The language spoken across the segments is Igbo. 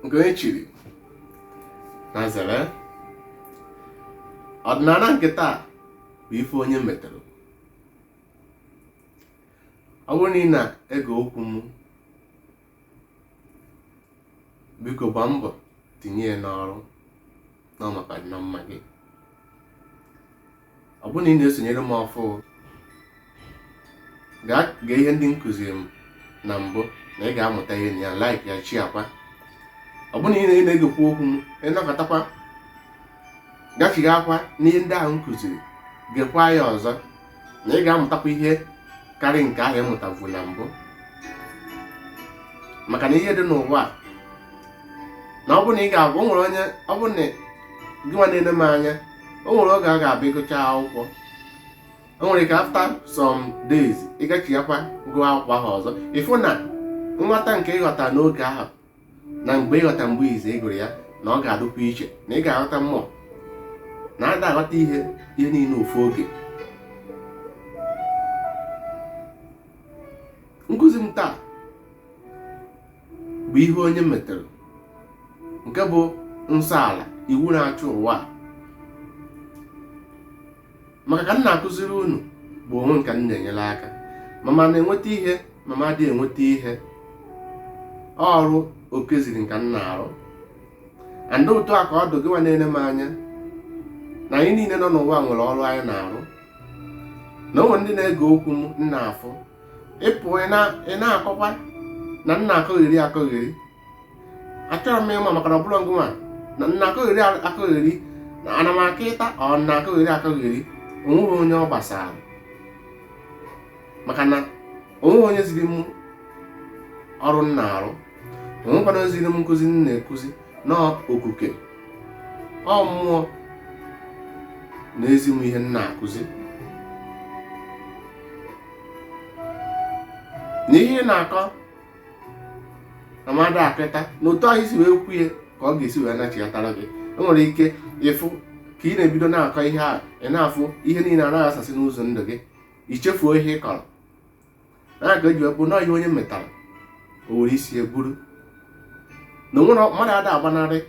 nke onye chiri nya zere ọdịnala nke taa bụ ife onye metere ọ bụrụ na ị na-ege okwu m biko gbaa mbọ tinye ya n'ọrụ na maka na mma gị ọ bụrụ na ị na-esonyere m ọfụ gaa gee ihe ndị m kụziri na mbụ na ị ga-amụta ihe na ya like ya share kwa ọ bụrụ na ị na- na-egekwa okwu m ị nọkatakwa gachighaakwa n'ihe ndị ahụ m kụziri gekwa ya ọzọ na ị ga-amụtakwa ihe karị nke ahụ ị mụtavu na mbụ maka na ihe dị n'ụwa na ọ bụ na ị ga-abụ o nwere onye ọbụna gị nwa na-ele m anya o nwere oge a ga-abịa ị gụcha akwụkwọ o nwere ike after some days ị gachighakwa gụọ akwụkwọ ahụ ọzọ ị fụ na nghọta nke ị ghọta n'oge ahụ na mgbe ị ghọta mgbe izi ị gụrụ ya na ọ ga-adụkwa iche na ị ga-aghọta mmụọ na ada aghọta ihe ihe niile ofu oge nkụzi m taa bụ ihe onye metere nke bụ nsọ ala iwu na-achị ụwa a maka ka m na-akụziri unu bụ onwe m ka m na-enyere aka ma m na-enweta ihe ma m adịghị enweta ihe ọrụ Okike ziri m ka m na-arụ and otu a ka ọ dụ gịwa na-ele m anya na anyị niile nọ n'ụwa nwere ọrụ anyị na-arụ na o nwere ndị na-ege okwu m na-afụ ị pụ ị na-akọkwa na m na-akọgheri akọgheri achọrọ m ịma maka na ọbụla ngụma na m na-akọgheri akọgheri na ana m akọta or m na-akọgheri akọgheri o nweghị onye ọ gbasara maka na o nweghị onye ziri m ọrụ m na-arụ o nwekwanụ onye ziri m nkụzi m na-akụzi na Okike ọ mmụọ na-ezi m ihe m na-akụzi na ihe ị na-akọ na mmadụ kịta na otu ahụ i si wee kwu ya ka ọ ga-esi wee nachighatara gị i nwere ike ịfụ ka ị na-ebido na-akọ ihe a ị na-afụ ihe niile ana-ayasasị n'ụzọ ndụ gị i chefuo ihe ị kọrọ na ya ka e ji ekwu na ihe onye metara o were isi ya buru na o nwere mmadụ ada agbanarị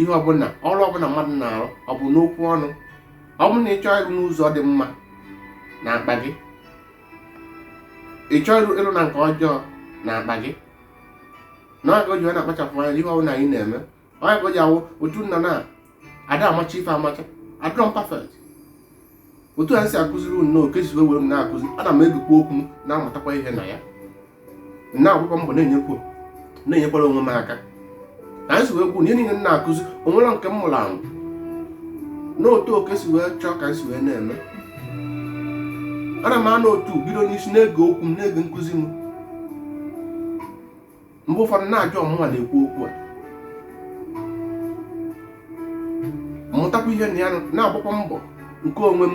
ihe ọbụla ọrụ ọbụla mmadụ na-arụ ọ bụ n'okwu ọnụ ọ bụrụ na ị chọọ ịrụ n'ụzọ dị mma na akpa gị ị chọọ ịrụ na nke ọjọọ na akpa gị na ọ ka e ji na-akpachapụ anya ihe ọbụla anyị na-eme ọ ka e ji awụ otu nna na ada amacha ife amacha adịrọ m perfect otu a si akụziri unu n'oke si wee m na-akụzi ana m egekwa okwu na-amụtakwa ihe na ya na-agbakwa mbọ na-enyekwa na-enyekwara onwe m aka ka anyị si wee kwuo na ihe niile na-akụzi onwere nke m mụrụ amụ n'otu oke si wee chọọ ka anyị si wee na-eme ana m anọ otu bido n'isi na-ege okwu m na-ege nkụzi m mgbe ụfọdụ na-ajụ ọ mụwa na-ekwu okwu a mụtakwa ihe na ya na-agbakwa mbọ nke onwe m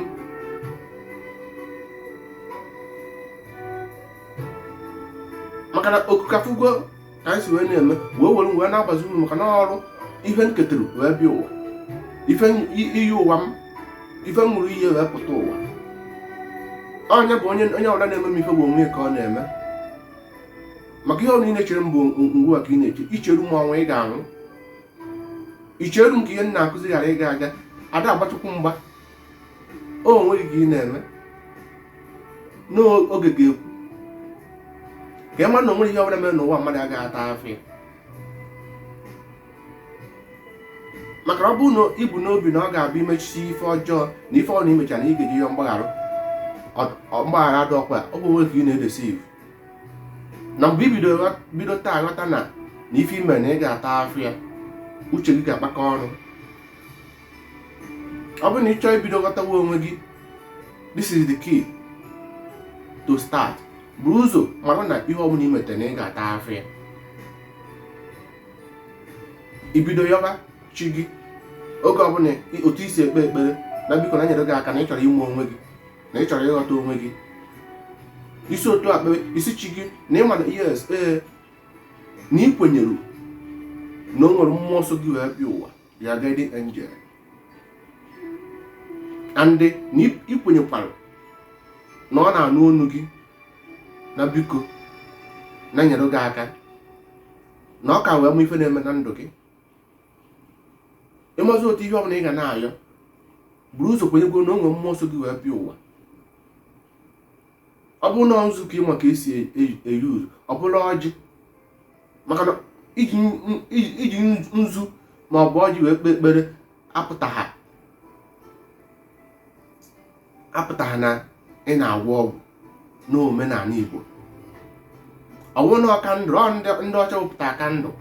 maka na okukafụgo ka anyị si wee na-eme wee were wee na-agwazi unu maka na ọrụ ife m ketara wee bịa ụwa ife iyi ụwa m ife m ṅụrụ iyi wee pụta ụwa onye bụ onye ọbụla na-eme m ife bụ onwe ya ka ọ na-eme maka ihe ọbụla ị na-echere m bụ ngịwa ka ị na-eche icheru m ọnwụ ị ga-anwụ icheru m ka ihe m na-akụzi ghara ịga aga ada agba Chukwu mgba onwe gị ka ị na-eme na oge ga-ekwu ka ị mara na onwerọ ihe ọbụla mere n'ụwa mmadụ agaghị ata afụfụ ya maka ọ bụrụ na ibu n'obi na ọ ga-abịa imechisi ife ọjọọ na ife ọbụla imechara na ị ga-eje yọọ mgbaghara mgbaghara dị ọkwa ọ bụ onwe gị ka ị na-edeceive na mgbe ibido taa ghọta na na ife ime na ị ga-ata afụfụ ya uche gị ga-akpakọ ọnụ ọ bụrụ na ị chọọ ibido ghọtawa onwe gị this is the key to start buru ụzọ mara na ihe ọbụla ị metere na ị ga-ata afụfụ ya ibido yọba chi gị oge ọbụla otu isi ekpe ekpere na biko na nyere gị aka na ị chọrọ ịma onwe gị na ị chọrọ ịghọta onwe gị isi otu a kpebe ị sị chi gị na ịma na yes ee na ị kwenyere na o nwere mmụọ so gị wee bịa ụwa your guardian angel and na ị kwenyekwara na ọ na-anụ onu gị na biko na nyere gị aka na ọ ka wee mụ ife na-eme na ndụ gị ịmazi otu ihe ọbụla ị ga na-ayọ buru ụzọ kwenyegodu na o nwe mmụọ so gị wee bịa ụwa ọ bụrụ na nzu ka ịma ka esi e-use ọ bụrụ ọjị maka na iji nzu ma ọ bụ ọjị wee kpee ekpere apụta ha apụtaghị na ị na-agwọ ọgwụ n'omenanị Igbo ọ wụ na kandụl ọ ndị ọcha wepụta kandụl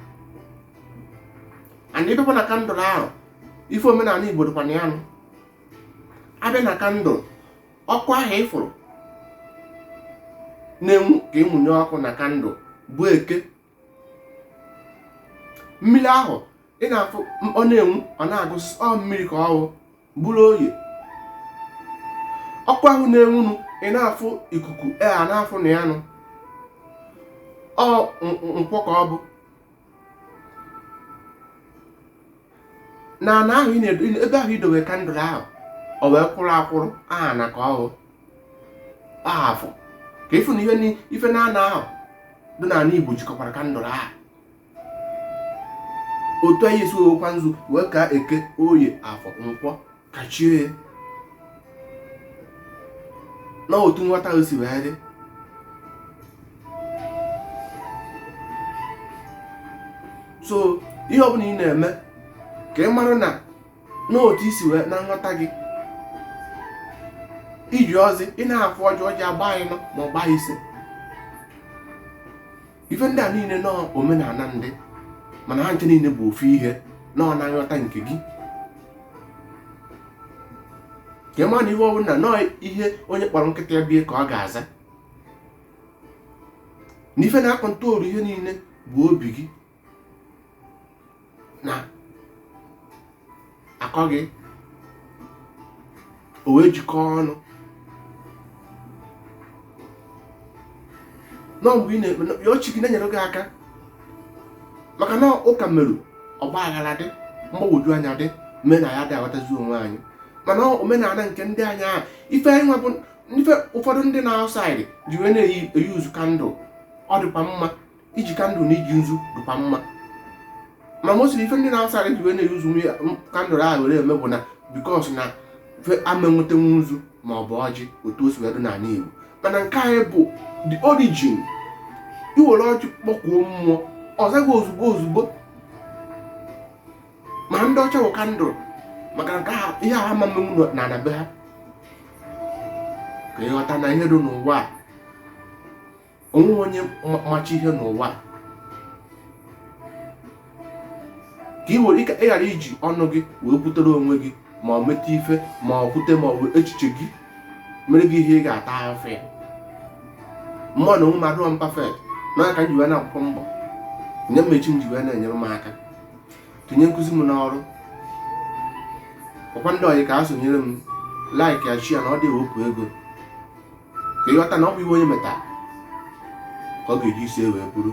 and ịbịakwa na kandụl ahụ ịfụ omenanị Igbo dịkwa na ya nụ abịa na kandụl ọkụ ahụ ịfụrụ na-enwu ka ịmụnye ọkụ na kandụl bụ Eke mmiri ahụ ị na-afụ ọ na-enwu ọ na-agụsị ọ mmiri ka ọ wụ bụrụ oye ọkụ ahụ na-enwunu ị na-afụ ikuku a na-afụ na ya nụ ọ nkwọ ka ọ bụ na ana ahụ ị na-edo ebe ahụ i dowe kandụl ahụ o wee kwụrụ akwụrụ ana ka ọ wụ afọ ka ị fụ na ihe ni- ife naanọ ahụ dị na ana igbo jikọkwara kandụl ahụ otu anyị esi wewekwa nzu wee ka eke oye afọ nkwọ kachie ya na otu nghọta ahụ si wee dị so ihe ọbụla ị na-eme ka ị mara na n'otu i si wee na nghọta gị iji ọjị ị na-afụ ọjị ọjị agba ịnọ ma ọ gba ise ife ndị a niile na ọ omenala ndị mana ha ncha niile bụ ofu ihe na ọ na nghọta nke gị ka ị mara na ihe ọbụla na ọ ihe onye kpọrọ nkịta ya bụ ya ka ọ ga-aza na ife na-akọntrolu ihe niile bụ obi gị na akọ gị o wee jikọọ ọnụ nọ mgbe ị na-ekpe ya ọ chi gị na-enyere gị aka maka na ụka meru ọgba aghara dị mgbagwoju anya dị o mee na anyị adị aghọtazi onwe anyị mana omenala nke ndị anyị ahụ ife anyị nwa bụ ife ụfọdụ ndị na outside ji wee na-eyuzu kandụl ọ dịkwa mma iji kandụl na iji nzu dịkwa mma ma mostly ife ndị na outside ji wee na-eyuzu kandụl ahụ were eme bụ na because na ama enwetenwu nzu ma ọ bụ ọjị otu o si wee dị n'ala Igbo mana nke anyị bụ the origin i were ọjị kpọkuo mmụọ ọ zaa gị ozugbo ozugbo ma ndị ọcha bụ kandụl maka nke ihe a ama emenwu na ana be ha ka ị ghọta na ihe dị n'ụwa a o nwe onye macha ihe n'ụwa ka ị were ị ghara iji ọnụ gị wee kwutere onwe gị ma ọ meta ife ma ọ kwute ma ọ bụ echiche gị mere gị ihe ị ga-ata ahụfụ ya mmụ na onwe m adịghị m perfect na aka m ji wee na akwụkwọ mbọ nye m chi m ji wee na-enyere m aka tinye nkụzi m n'ọrụ ọkwa ndị ọyị ka ha sonyere m like ya share ya na ọ dị ewepụ ego ka ị ghọta na ọ bụ ihe onye metara ka ọ ga-eji isi wee buru